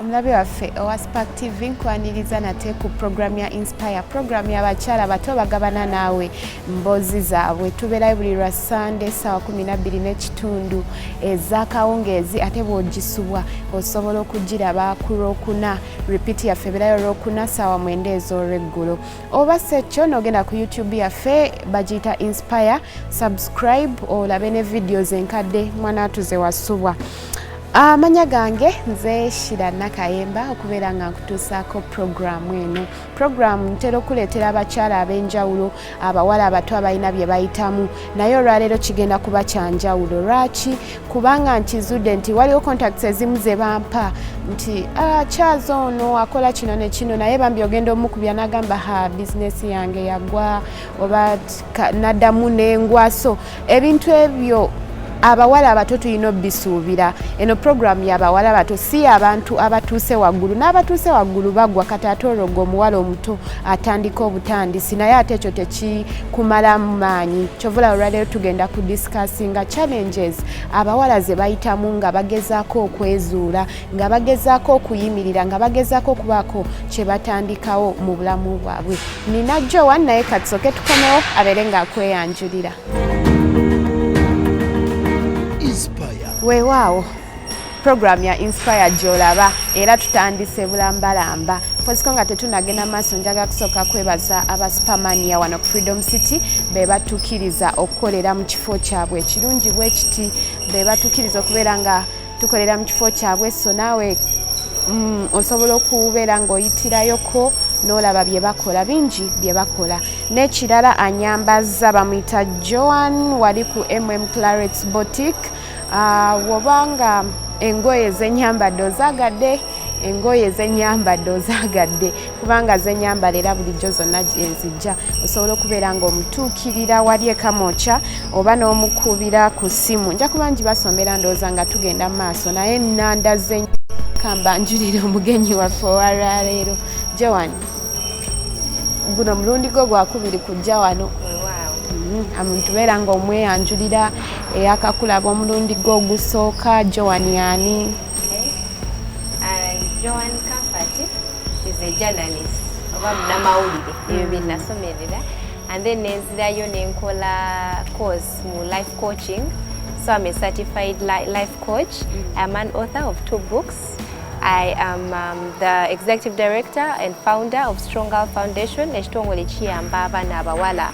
omulabe waffe owa spark tv nkwaniriza nate ku program ya inspire program yabakyala bato bagabana naawe mboozi zaabwe tubeerayo buli lwa sande saawa 12 n'ekitundu ezakawungeezi ate bwogisubwa osobola okugiraba ku lwokuna repeat yaffe ebeerayo lwokuna saawa mwenda ez'olweggulo oba sekyo nogenda ku youtube yaffe bagiyita inspire subscribe olabe ne vidiyo zenkadde mwana atuze wasubwa amanya gange nze shira nakayemba okubeera nga nkutuusaako puroguramu eno puroguramu ntera okuleetera abakyala ab'enjawulo abawala abato abalina bye bayitamu naye olwaleero kigenda kuba kyanjawulo lwaki kubanga nkizudde nti waliwo contacts ezimu ze bampa nti akyaza ah, ono akola kino ne kino naye bambi ogenda omukubya n'agamba ha bizinesi yange yagwa oba naddamu n'engwaso ebintu ebyo abawala abato tulina obisuubira eno puroguramu yabawala abato si abantu abatuuse waggulu n'abatuuse waggulu bagwa kati ate oroga omuwala omuto atandika obutandisi naye ate ekyo tekikumalamu maanyi kyovula olwaleero tugenda ku discussinga challenges abawala ze bayitamu nga bagezaako okwezuula nga bagezaako okuyimirira nga bagezaako okubaako kye batandikawo mu bulamu bwabwe nina jowa naye katusoke tukomewo abeere ng'akweyanjulira weewaawo puroguramu ya inspire gyolaba era tutandise bulambalamba poziko nga tetunagenda maaso njaga kusooka kwebaza aba supermania wano ku freedom city be batukkiriza okukolera mu kifo kyabwe ekirungi bwe kiti be batukkiriza okubeera nga tukolera mu kifo kyabwe so naawe mm, osobola okubeera ng'oyitirayoko n'olaba bye bakola bingi bye bakola n'ekirala anyambaza bamuyita joan wali ku mm claret botic ah, woba nga engoye zenyambadde ozagadde engoye zenyambadde ozagadde kubanga zenyambala era bulijjo zonna gyenzijja osobola okubeera nga omutuukirira wali ekamokya oba n'omukubira ku ssimu nja kuba ngibasombera ndowooza nga tugenda mu maaso naye nanda zenyamba njulire omugenyi waffe owalwaleero joan guno mulundi gwo gwakubiri kujja wano omuntu mm, beera nga omweyanjulira eyakakulaba omulundi gwo ogusooka joan yani Okay. Uh, Joan Comfort is a journalist oba munamawulire ebyo mm. byenasomerera and then nenzirayo nenkola course mu life coaching so i'm a certified li life coach mm. i'm an author of two books I am um, the executive director and founder of Strong Girl Foundation, ekitongole kiyamba abaana abawala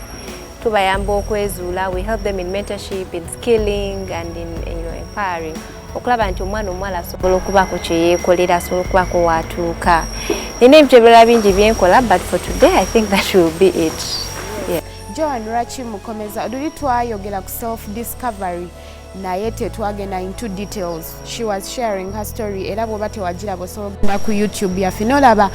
tubayamba okwezuula we help them in mentorship in skilling and in you know, empowering okulaba nti omwana omuwala asobola okubaako kyeyeekolera asobola okubaako waatuuka nina ebintu ebirala bingi byenkola but for today i think that will be it joan lwaki mukomeza luli twayogera ku self discovery naye tetwagenda into details she was sharing her story era bwoba tewagiraba osobola okugenda ku youtube yaffe nolaba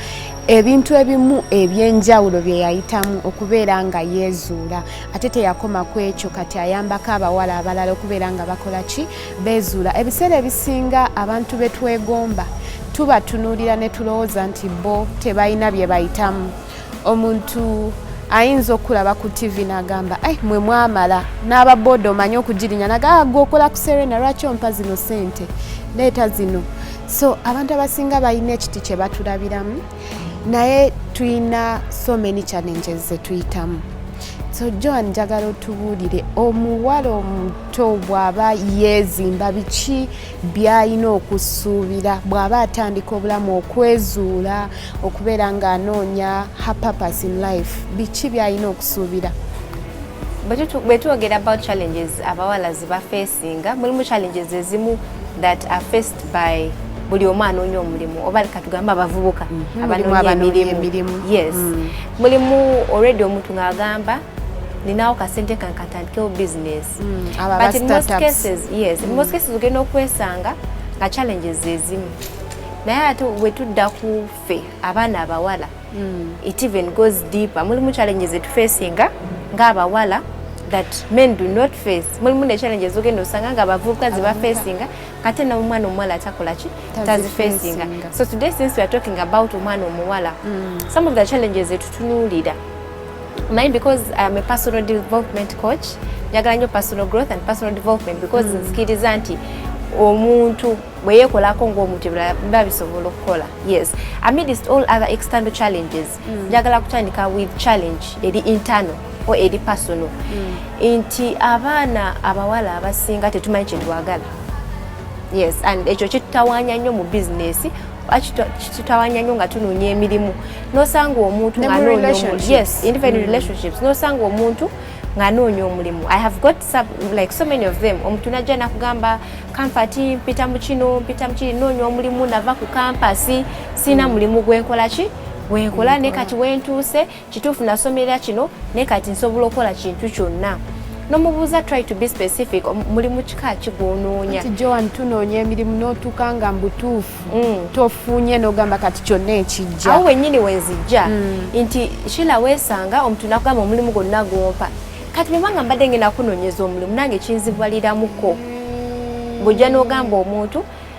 ebintu ebimu ebyenjawulo bye yayitamu okubeera nga yeezuula ate teyakoma ku ekyo kati ayambako abawala abalala okubeera nga bakola ki beezuula ebiseera ebisinga abantu be twegomba tubatunuulira ne tulowooza nti bo tebalina bye bayitamu omuntu ayinza okulaba ku ttivi n'agamba ai mwe mwamala n'aba booda omanye okugirinya nagaa ah, gwe okola ku serena lwaki ompa zino sente leeta zino so abantu abasinga balina ekiti kye batulabiramu naye tulina so many challenges ze tuyitamu so joan njagala otubuulire omuwala omu omuto bw'aba yeezimba biki by'alina okusuubira bw'aba atandika obulamu okwezuula okubeera ng'anoonya her purpose in life biki by'alina okusuubira bwe twogera about challenges abawala ziba facinga mulimu challenges ezimu that are faced by buli omu anoonya omulimu oba katugambe abavubuka mhm. abanoonya emirimu yes mm. mulimu already omuntu ng'agamba ninawo kasente kange katandikewo business mm, but in most cases yes in most mm. cases ogenda okwesanga nga challenges zezimu naye ate wetudda ku ffe abaana abawala mm. it even goes deeper mulimu challenges etufacinga ngaabawala that men do not face mulimu ne challenges ogenda osanga nga abavubuka zibafacinga kate na omwana omuwala atakolaki tazifacinga so today since weare talking about omwana omuwala mm. some of the challenges etutunuulira mine because I'm a personal development coach njagala nyo personal growth and personal development because mm. nzikiriza nti omuntu bwe yeekolako ng'omuntu ebirala biba bisobola okukola yes amidst all other external challenges mm. njagala mm. kutandika with challenge eri internal o eri personal mm. nti abaana abawala abasinga tetumanyi kyetwagala yes and ekyo kitutawanya nnyo mu bizinesi kitawanya nyo nga tunoonya emirimu nosanga omuntu yes even mm. relationships nosanga omuntu nganoonya omulimu i have got sub, like so many of them omuntu najja nakugamba kampati mpita mu kino mpita mu kiri noonya omulimu nava ku kampasi sirina mm. mulimu gwenkola ki gwenkola ne kati wentuuse kituufu nasomera kino naye kati nsobola okukola kintu kyonna nomubuuza try to be specific mulimu kika kigwonoonya nti joan tunoonya emirimu notuuka nga mbutuufu mm. tofunye nogamba kati kyonna ekijja awo wenyini wenzijja mm. nti shila wesanga omuntu nakugamba omulimu gwonna gwompa kati bwebanga mbadde ngenda kunonyeza omulimu nange kinzibwaliramuko mm. bwojja nogamba omuntu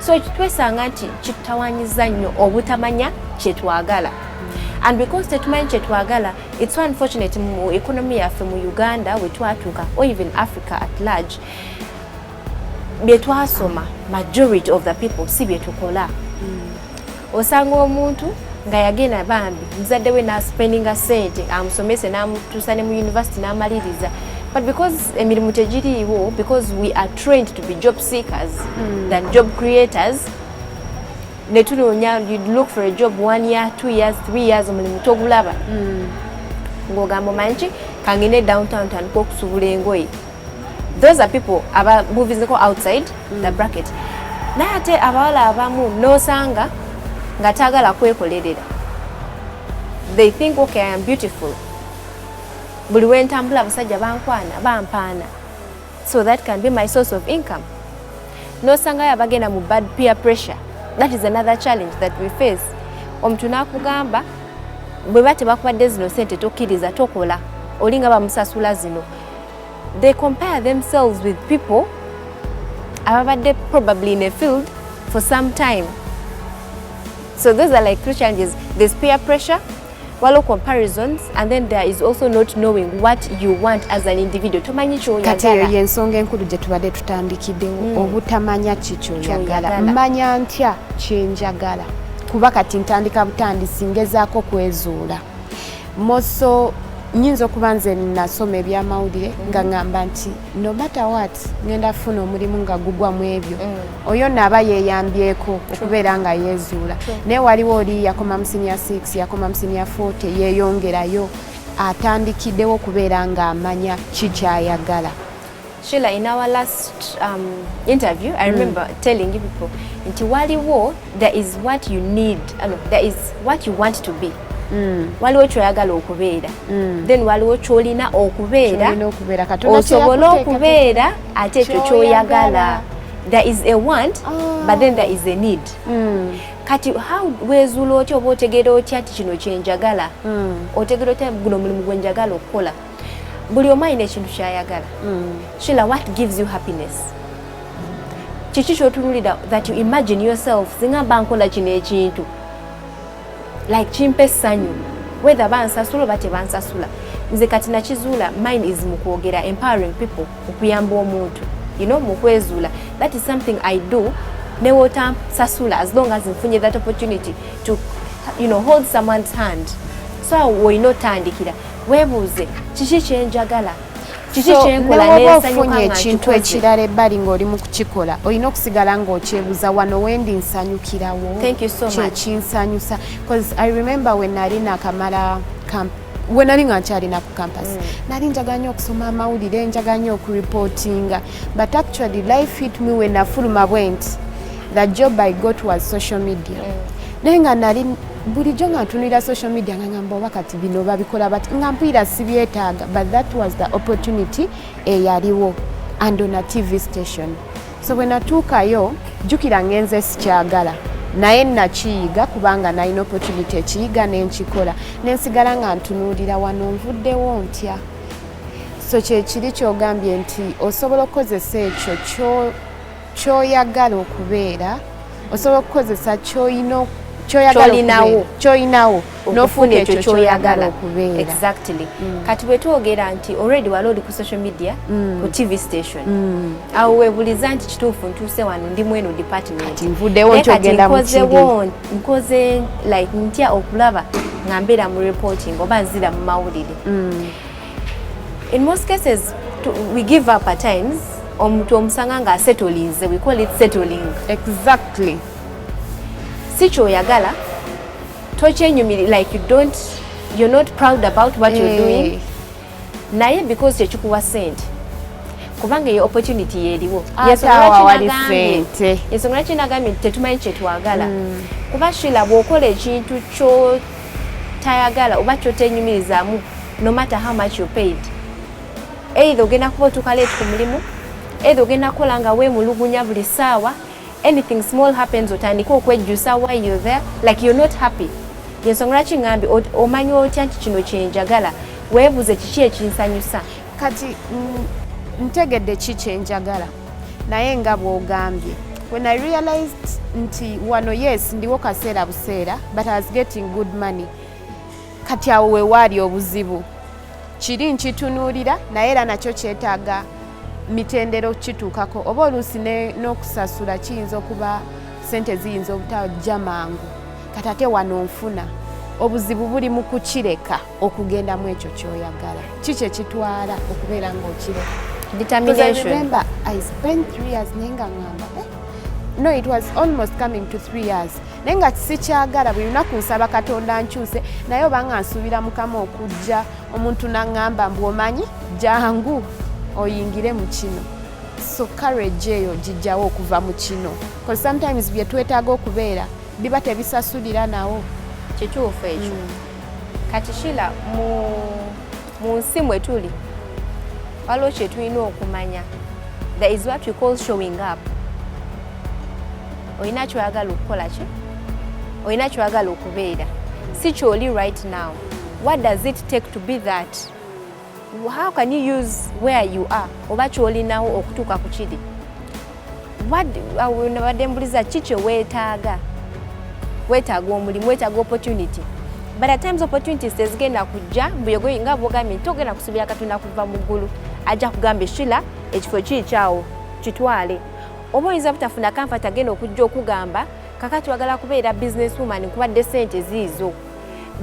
so twesanga nti kitutawanyiza nnyo obutamanya kyetwagala and because tetumanyi kyetwagala it's so unfortunate mu economy yaffe mu uganda wetwatuuka or even africa at large byetwasoma majority of the people si byetukola mm. osanga omuntu nga yagenda bambi muzadde we naspendinga sente amusomese namutuusa ne mu univesity namaliriza but because emirimu tegiriiwo because we are trained to be job seekers mm. than job creators netunoonya you look for a job one year two years three years omulimu togulaba mm. ng'ogamba omanyi ki kangende downtown tandika okusubula engoye those are people aba movizeko outside mm. the bracket naye ate abawala abamu nosanga nga tagala kwekolerera they think okay i am beautiful buli wentambula abasajja bankwana bampaana so that can be my source of income nosangayo abagenda mu bad peer pressure that is another challenge that we face omuntu nakugamba bweba tebakubadde zino sente tokkiriza tokola olinga bamusasula zino they compare themselves with people ababadde probably in a field for some time so those are like three challenges there's peer pressure waliwo comparisons and then there is also not knowing what you want as an individual tomanyi kyoyagala eyo yensonga enkulu gye tubadde tutandikiddewo mm. obutamanya ki kyoyagala mmanya ntya kyenjagala kuba kati ntandika butandisi ngezaako kwezuula moso nyinza okuba nze nasoma ebyamawulire mm. nga ngamba nti no matter what ngenda funa omulimu nga gugwa mu ebyo mm. oyo naaba yeyambyeko okubeera nga yezuula naye waliwo oli yakoma musinia 6 yakoma musinia 40 yeyongerayo atandikiddewo okubeera nga amanya kikyayagala Sheila, in our last um, interview, I mm. remember mm. telling you people, in Tiwali war, there is what you need, uh, no, there is what you want to be. Mm. waliwo kyoyagala okubeera mm. then waliwo kyolina okubeera osobola okubeera ate ekyo kyoyagala there is a want oh. but then there is a need mm. kati how wezuula otya oba otegeera otya ti kino kyenjagala mm. otegeera otya guno omulimu gwenjagala okukola buli omu alina ekintu kyayagala mm. shila what gives you happiness kiki kyotunulira that you imagine yourself singa mba nkola kino ekintu like kimpa essanyu whether bansasula oba tebansasula nze kati nakizuula mine is mu kwogera empowering people okuyamba omuntu you know mu kwezuula that is something i do newotansasula as long as nfunye that opportunity to you know, hold someone's hand so woyina otandikira webuuze kiki kyenjagala kiki kyenkola nensanyuka ekintu ekirala ebbali ng'oli mu kukikola olina okusigala ng'okyebuza wano wendi nsanyukirawo kyekinsanyusa bcause i remember we nali nakamala camp we nali nga nkyalina ku campus mm. nali njaga nnyo okusoma amawulire njaga nnyo okureportinga but actually life hit me we nafuluma bwenti the job i got was social media mm. naye nga nali bulijjo nga ntunulira social media nga ngamba oba kati bino babikola bati nga mpulira sibyetaaga but that was the opportunity eyaliwo and on a tv station so bwe natuukayo jjukira ngenze sikyagala naye nakiyiga kubanga nalina opportunity ekiyiga nenkikola nensigala nga ntunuulira wano nvuddewo ntya so kyekiri kyogambye nti osobola okukozesa ekyo kyoyagala okubeera osobola okukozesa kyoyina kyoyagalaolinawo kyoyinawo nofuna ekyo kyoyagala okubeera exactly mm. kati bwetwogera nti already wali oli ku social media mm. ku tv station mm. awo webuliza nti kituufu ntuuse wano ndi mweno department nkozewo nkoze like ntya okulaba nga mbeera mu reporting oba nzira mu mawulire mm. In most cases, to, we give up at times. Omuntu omusanga nga asetolize, we call it settling. Exactly. Si kyoyagala, tokyenyumiri like you don't, you're not proud about what you're eh. doing. Naye because kyekikuwa sente. kubanga eyo opportunity yeriwo ah, yesonga kinagambye nti tetumanyi kyetwagala mm. kuba shila bwokola ekintu kyo tayagala oba kyotenyumirizamu no matter how much you paid either ogenda kuba otuuka late ku mulimu either ogenda kukola nga weemulugunya buli ssaawa anything small happens otandika okwejjusa why you there like you're not happy yensonga lwaki ngambi omanya otya nti kino kyenjagala weebuze kiki ekinsanyusa kati mm, ntegedde ki kyenjagala naye nga bwogambye when i realized nti wano yes ndiwo kaseera buseera but i was getting good money kati awo wewaali obuzibu kiri nkitunuulira naye era nakyo kyetaaga mitendera okukituukako oba oluusi n'okusasula kiyinza okuba sente ziyinza obutajja mangu kati ate wano nfuna obuzibu buli mu kukireka okugendamu ekyo kyoyagala kiki ekitwala okubeera ngaokire remember i spent three years naye nga ngamba eh? no it was almost coming to three years naye nga sikyagala buli lunaku nsaba katonda nkyuse naye obanga nsuubira mukama okujja omuntu naŋŋamba mbu omanyi jangu oyingire mu kino so courage eyo gijjawo okuva mu kino bcause sometimes bye twetaaga okubeera biba tebisasulira nawo kituufu ekyo mm. kati shila mu nsi mwe tuli waliwo kye tulina okumanya there is what you call showing up olina kyoyagala okukola ki olina kyoyagala okubeera si kyoli right now what does it take to be that how can you use where you are oba kyolinawo okutuuka ku kiri uh, nabadde mbuliza ki kye weetaaga weetaaga omulimu weetaaga opportunity but at times opportunities tezigenda kujja mbuyogoyi nga bwogambye nti ogenda kusubira katonda kuva mu ggulu ajja kugamba eshila ekifo kiikyawo kitwale oba oyinza butafuna kamfati agenda okujja okugamba kakati wagala kubeera business woman nkubadde sente ziizo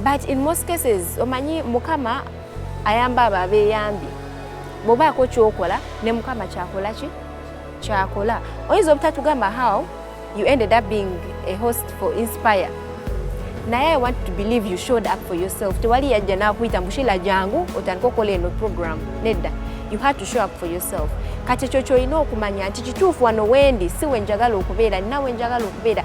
but in most cases omanyi mukama ayamba abo abeyambye bwobaako kyokola ne mukama kyakola ki kyakola oyinza obutatugamba how you ended up being a host for inspire naye i want to believe you showed up for yourself tewali yajja nakuyita mushila jangu otandika okola eno program nedda you had to show up for yourself kati ekyo kyolina okumanya nti kituufu wano wendi si wenjagala okubeera nina wenjagala okubeera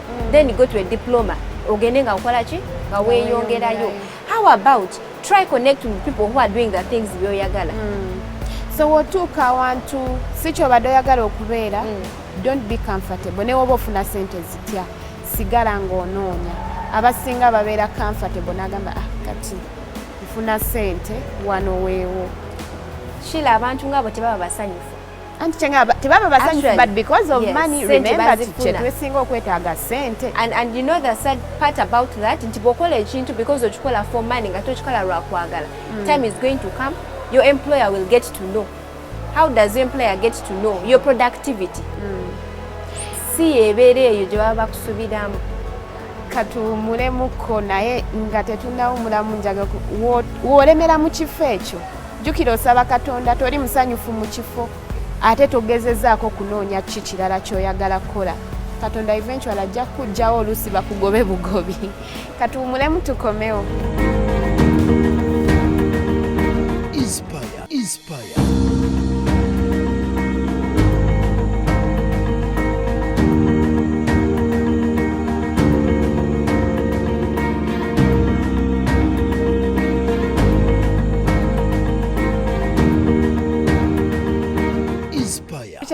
then go to a diploma ogende nga okola ki nga weeyongerayo how about try connect with people who are doing the things byoyagala mm. so wotuuka awantu si kyobadde oyagala okubeera mm. don't be comfortable naye oba ofuna sente zitya sigala ng'onoonya abasinga babeera comfortable n'agamba ah kati nfuna sente wano weewo kila abantu ngaabo tebaba basanyufu anti kyenga tebaba basanyufu but because of yes, money remember kyetusinga okwetaaga sente and, and you know the sad part about that nti bwokola ekintu because okikola for money nga tokikola lwakwagala mm. time is going to come your employer will get to know how does your employer get to know your productivity mm. si ebeera eyo gye baba bakusubiramu katuwumulemuko naye nga tetunawumulamu njaga wolemera mu kifo ekyo jjukira osaba katonda toli musanyufu mu kifo ate togezezaako kunoonya ki kirala kyoyagala kukola katonda eventual ajja kujjawo oluusi bakugobe bugobi katuwumulemu tukomewo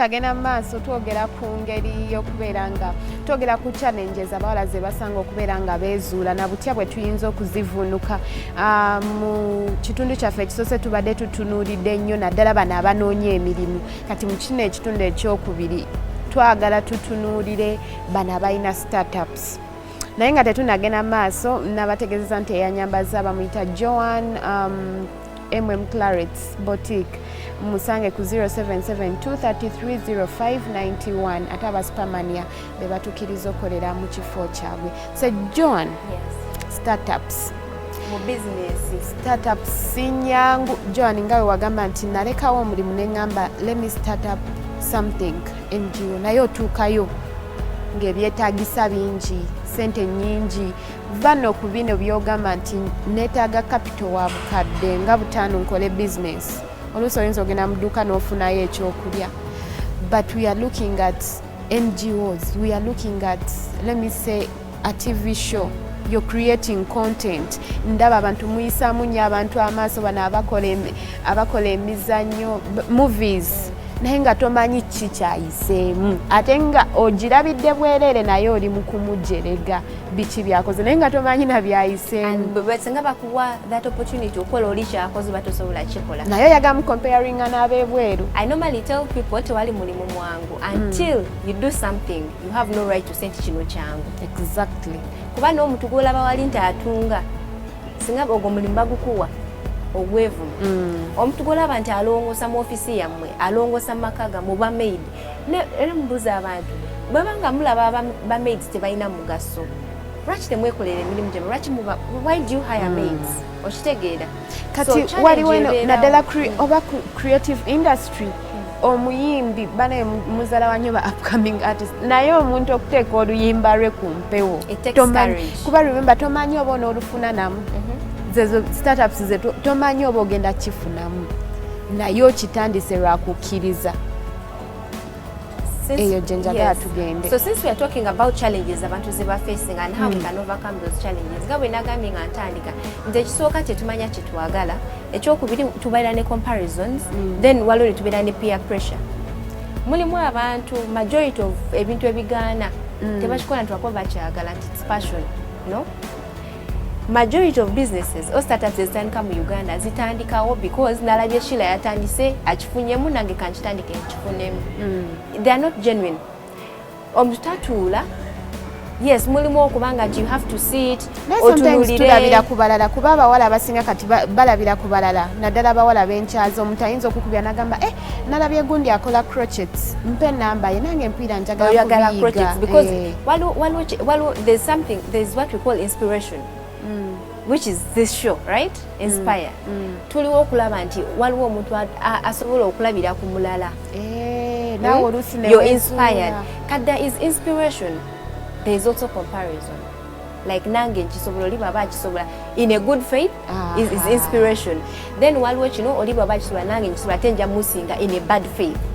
tukyagenda mu maaso twogera ku ngeri y'okubeera nga twogera ku challenges abawala ze basanga okubeera nga beezuula na butya bwe tuyinza okuzivunuka ah, mu kitundu kyaffe ekisoose tubadde tutunuulidde nnyo naddala bano abanoonya emirimu kati mu kino ekitundu ekyokubiri twagala tutunuulire bano abalina startups naye nga tetunagenda maaso nabategezeza nti eyanyambaza bamuyita joan um, mm claret botic musange ku 0772330591 ate abasupamania be batukiriza okolera mu kifo kyabwe so joan yes. startups startup sinyangu joan nga wewagamba nti nalekawo omulimu neŋamba let me start up something NGO naye otuukayo ng'ebyetaagisa bingi sente nyingi va no ku bino byogamba nti neetaaga kapito wa bukadde nga butaano nkole bizinesi oluusi oyinza ogenda mu dduuka n'ofunayo ekyokulya but we are looking at ngos we are looking at let me say a TV show you're creating content ndaba abantu muyisaamu nnyo abantu amaaso bano abakola emizannyo movies naye nga tomanyi ki kyayiseemu ate nga ogirabidde bwereere naye oli mu kumujerega biki byakoze naye nga tomanyi na byayiseemusinga bakuwa that opportunity okukola oli kyakoze oba tosobola kikola naye oyagamu comparinga n'abebweru i normally tell people tewali mulimu mwangu until mm. you do something you have no right to say nti kino kyangu exactly kuba n'omuntu gwolaba wali nti atunga singa ogwo mulimu bagukuwa ogwevumu mm. omuntu gwolaba nti alongosa mu ofisi yammwe alongosa mu maka gammwe oba maid era mubuuza abantu bweba nga mulaba bamaid tebalina mugaso lwaki temwekolera emirimu gyamwe lwaki why do you hire hmm. maids okitegeera kati waliwo naddala oba creative industry omuyimbi banaye muzala wa nyoba upcoming artist naye omuntu okuteeka oluyimba lwe ku mpewo kuba remember tomanyi oba onoolufuna namu mhm. zezo startups ze tomanyi oba ogenda kifunamu naye okitandise lwakukkiriza since, eyo gye njagala yes. tugende so since we are talking about challenges abantu ze ba facing and how mm. we hmm. can overcome those challenges nga bwe nagambye nga ntandika nti ekisooka kyetumanya kyetwagala ekyokubiri tubeera ne comparisons mm. then waliwo ne tubeera ne peer pressure mulimu abantu majority of ebintu ebigaana mm. tebakikola nti wakuba bakyagala nti its passion no majority of businesses or startups ezitandika mu uganda zitandikawo because nalabye shila yatandise akifunyemu nange kankitandike nkifunemu mm. they are not genuine omutatuula yes mulimu okuba nga you have to sit otulabira ku balala kuba abawala abasinga kati balabira ku balala naddala abawala benkyaza omuntu ayinza okukubira nagamba eh nalabye gundi akola crochet mpa enamba ye nange empiira njagala kuyiga eh. waliwo there's something there's what we call inspiration mm. which is this show right mm. inspire mm. mm. tuliwo okulaba nti waliwo omuntu asobola okulabira ku mulala eh, hmm? you're inspired kati there is inspiration there is also comparison like nange nkisobola oli baba akisobola in a good faith is, is inspiration then waliwo kino oli bwaba kisula nange nkisula ate nja musinga in a bad faith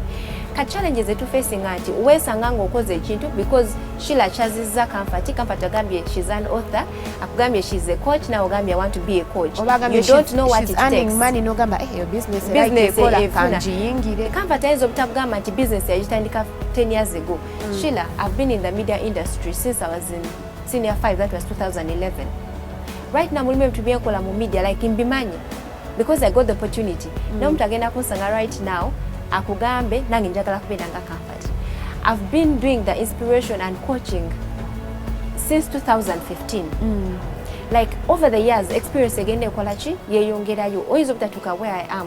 ka challenge zetufacinga nti weesanga ngaokoze ekintu because shila kyazizza kanfati kanfati agambye shes an author akugambye shes a coach nawe ogambye want to be a coach nogamba eyo businessekangiyingire kanfati ayinza obutakugamba nti business yagitandika 10 years ago mm. shila i've been in the media industry since i was in senior 5 that was 2011 right now mulimu ebintu byenkola mu media like mbimanyi because i got the opportunity mm. naye omuntu agenda kunsanga right now akugambe nange njagala kubeera nga comfort i've been doing the inspiration and coaching since 2015 mm. like over the years experience egenda ekola ki yeyongerayo oyinza obutatuuka where i am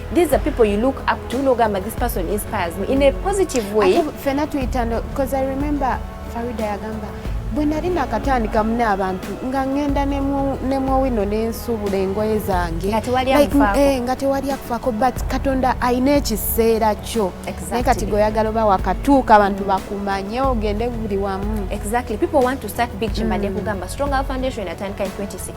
these are people you look up to nogamba this person inspires me in a positive way fena tuyitano because i remember farida yagamba bwe nali nakatandika mune abantu nga ngenda nemwowino nensuubula engoye zange nga tewali eh, akufaako but katonda alina ekiseera kyo naye kati gweoyagala oba wakatuuka abantu bakumanye ogende buli wamu exactly people want to start big chimade mm. kugamba strong foundation atandika in 2016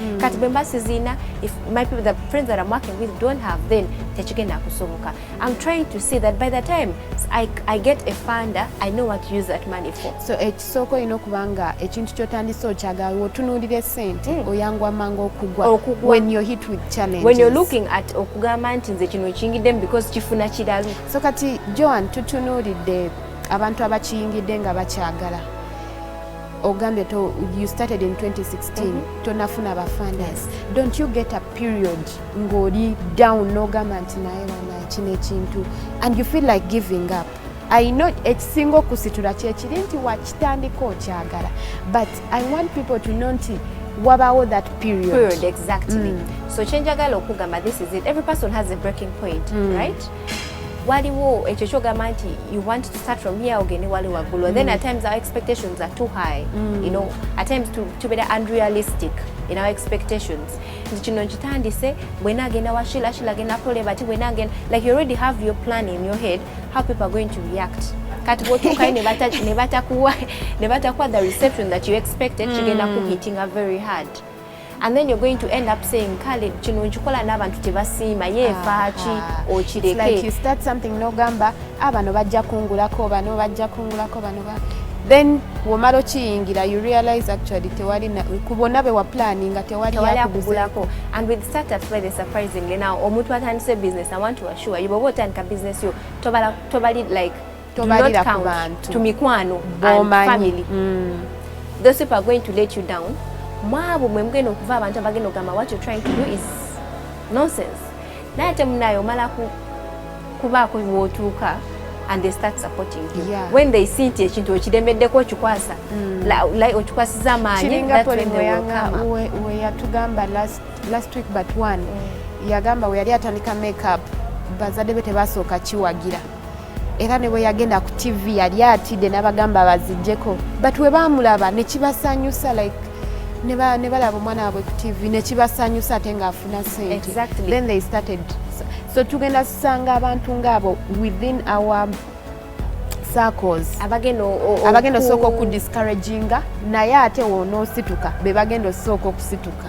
mm. kati bwemba sizina if my people the friends that i'm working with don't have then tekigenda kusoboka i'm trying to see that by the time i, I get a funder i know what to use that money for so ekisooka olina okuba nga ekintu kyotandise okyagala wotunuulira esente mm. oyangwa mangu okugwa when you're hit with challenges when you're looking at okugamba nti nze kino kingiddemu because kifuna kiralu so kati joan tutunuulidde abantu abakiyingidde nga bakyagala ogambye to you started in 2016 mm -hmm. tonafuna ba funders don't you get a period ng'oli down n'ogamba nti naye wana kino ekintu and you feel like giving up i know ekisinga okusitula kyekiri nti wakitandika okyagala but i want people to know nti wabawo that period, period exactly mm. so kyenjagala okugamba this is it every person has a breaking point mm. right waliwo ekyo kyogamba nti you want to start from here ogende wali waggulu mm. then at times our expectations are too high mm. you know at times tubeera to unrealistic in our expectations nti kino nkitandise bwena agenda wa shila shila agenda akole bati bwena agenda like you already have your plan in your head how people are going to react kati bwotuukayo ne batakuwa the reception that you expected kigenda mm. kuhitinga very hard and then you're going to end up saying kale kino nkikola n'abantu tebasiima ye efaaki ah, ah. okireke nogamba abano ah, bajja kungulako bano bajja kungulako bano then womala okiyingira you realize actually tewali kubona be wa planning nga tewali yakugulako and with startups by the surprisingly now omuntu atandise business i want to assure you bobo otandika business yo tobali like tobalira ku bantu to mikwano and family mm. those people are going to let you down mwabo mwe mugenda okuva abantu abagenda okugamba what you're trying to do is nonsense naye ate munaye omala kubaako wootuuka and they start supporting you yeah. when they see nti ekintu okiremeddeko okikwasa mm. like okikwasiza amaanyi weyatugamba last, last week but one mm. yagamba weyali atandika makeup bazadde be tebasooka kiwagira era ne bwe yagenda ku tv yali atidde n'abagamba bazijjeko but we baamulaba ne kibasanyusa like ne balaba omwana wabwe ku tv ne kibasanyusa ate ng'afuna sente then they started so tugenda kusanga abantu ng'abo within our abagenda osooka okudiscouraginga naye ate wonosituka bebagenda osooka okusituka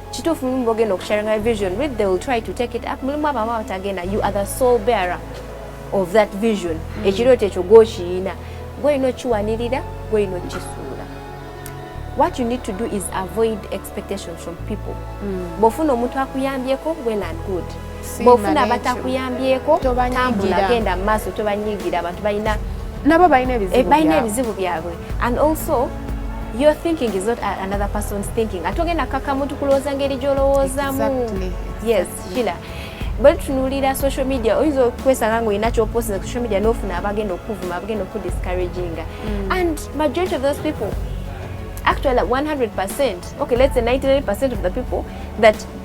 kituufu mulimu bogenda okusharinga vision with they will try to take it up mulimu abo aba batagenda you are the sole bearer of that vision mm. ekirooto ekyo gwokiyina gwolina okiwanirira gwolina okukisuula what you need to do is avoid expectations from people mm. bwofuna omuntu akuyambyeko well and good bwofuna abatakuyambyeko tambula genda mu maaso tobanyigira abantu balina nabo balina eh, ebizibu byabwe and also your thinking is not another person's thinking ate ogenda kaka muntu kulowooza ngeri gyolowoozamu yes kila bwe tutunuulira social media oyinza okwesanga ngaolina kyoposinza ku social media nofuna abagenda okukuvuma abagenda okukudiscouraginga mm. and majority of those people actually 100 percent okay let's say 99 percent of the people that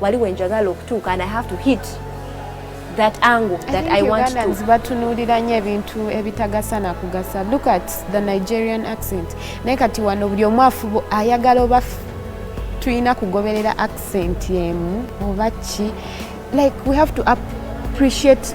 wali wenjagala okutuuka and i have to hit that angle that I, I want Ugandans to. batunulira nnyo ebintu ebitagasa na kugasa. Look at the Nigerian accent. Naye kati wano buli omu afuba ayagala oba tulina kugoberera accent emu oba ki like we have to appreciate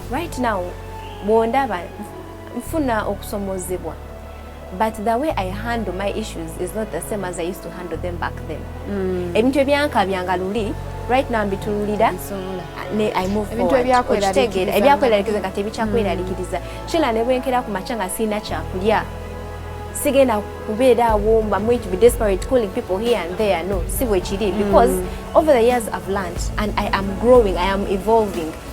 right now bwondaba nfuna okusomozebwa but the way i handle my issues is not the same as i used to handle them back then mm. ebintu ebyankabyanga luli right now mbitululira ibintuebyakweralikiriza ebyakweralikiriza nga tebikyakweralikiriza mm. kila nebwenkera ku maca nga siina kyakulya sigenda kubeera awo mba mwingi be desperate calling people here and there no si bwekiri mm. because over the years i've learned and i am growing i am evolving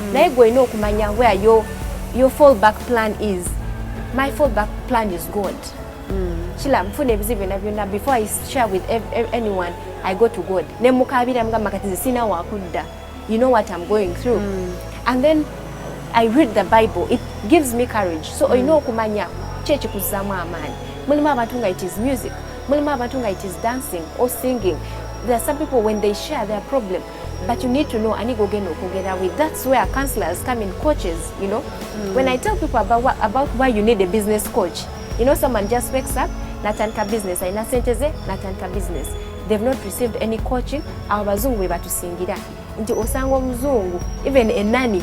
mm. naye gwe olina okumanya where your, your fall back plan is my fall back plan is god mm. kila nfuna ebizibu byona byona before i share with anyone i go to god nemukabira mugamba kati zisina wakudda you know what i'm going through mm. and then i read the bible it gives me courage so mm. olina okumanya kyekikuzamu amaanyi mulimu abantu nga it is music mulimu abantu nga it is dancing or singing there are some people when they share their problem but you need to know ani gogenda okwogera with that's where counselors come in coaches you know mm. when i tell people about, what, about why you need a business coach you know someone just wakes up natandika business alina sente ze natandika business they've not received any coaching abo bazungu be batusingira nti osanga omuzungu even enani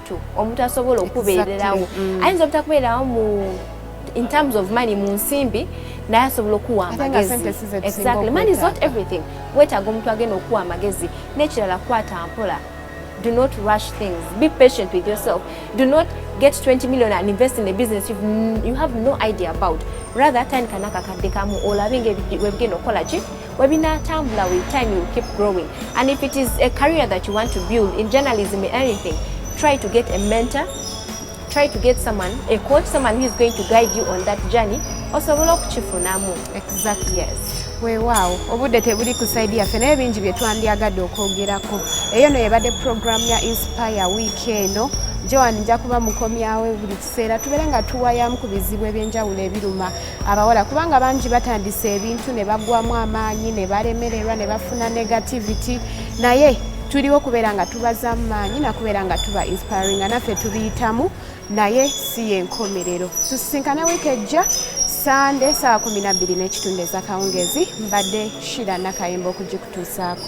omuntu omuntu asobola okubeererawo mm. ayinza obutakubeerawo mu in terms of money mu nsimbi naye asobola okuwa amagezieverything wetaaga omuntu agenda okuwa amagezi n'ekirala kwata mpola do not rush things be patient with yourself do not get 20 million and invest in a business you've, you have no idea about rather tandika nakakadde kamu olabe nga webigenda okukola ki webinatambula with time you keep growing and if it is a career that you want to build in journalism or anything try to get a mentor try to get someone a coach someone who is going to guide you on that journey osobola okukifunamu exactly yes weewaawo obudde tebuli ku saidi yaffe naye bingi bye twandyagadde okwogerako eyo no yebadde puroguramu ya inspire wiiki eno joan nja kuba mukomyawo buli kiseera tubeere nga tuwayamu ku bizibu ebyenjawulo ebiruma abawala kubanga bangi batandise ebintu ne bagwamu amaanyi ne balemererwa ne bafuna negativity naye tuliwo kubeera nga tubaza maanyi nakubeera nga tuba inspiring nga naffe tubiyitamu naye si yenkomerero tusisinkane wiiki ejja sande saawa kumi nabbiri n'ekitundu ezakawungezi mbadde shira nakayimba okugikutuusaako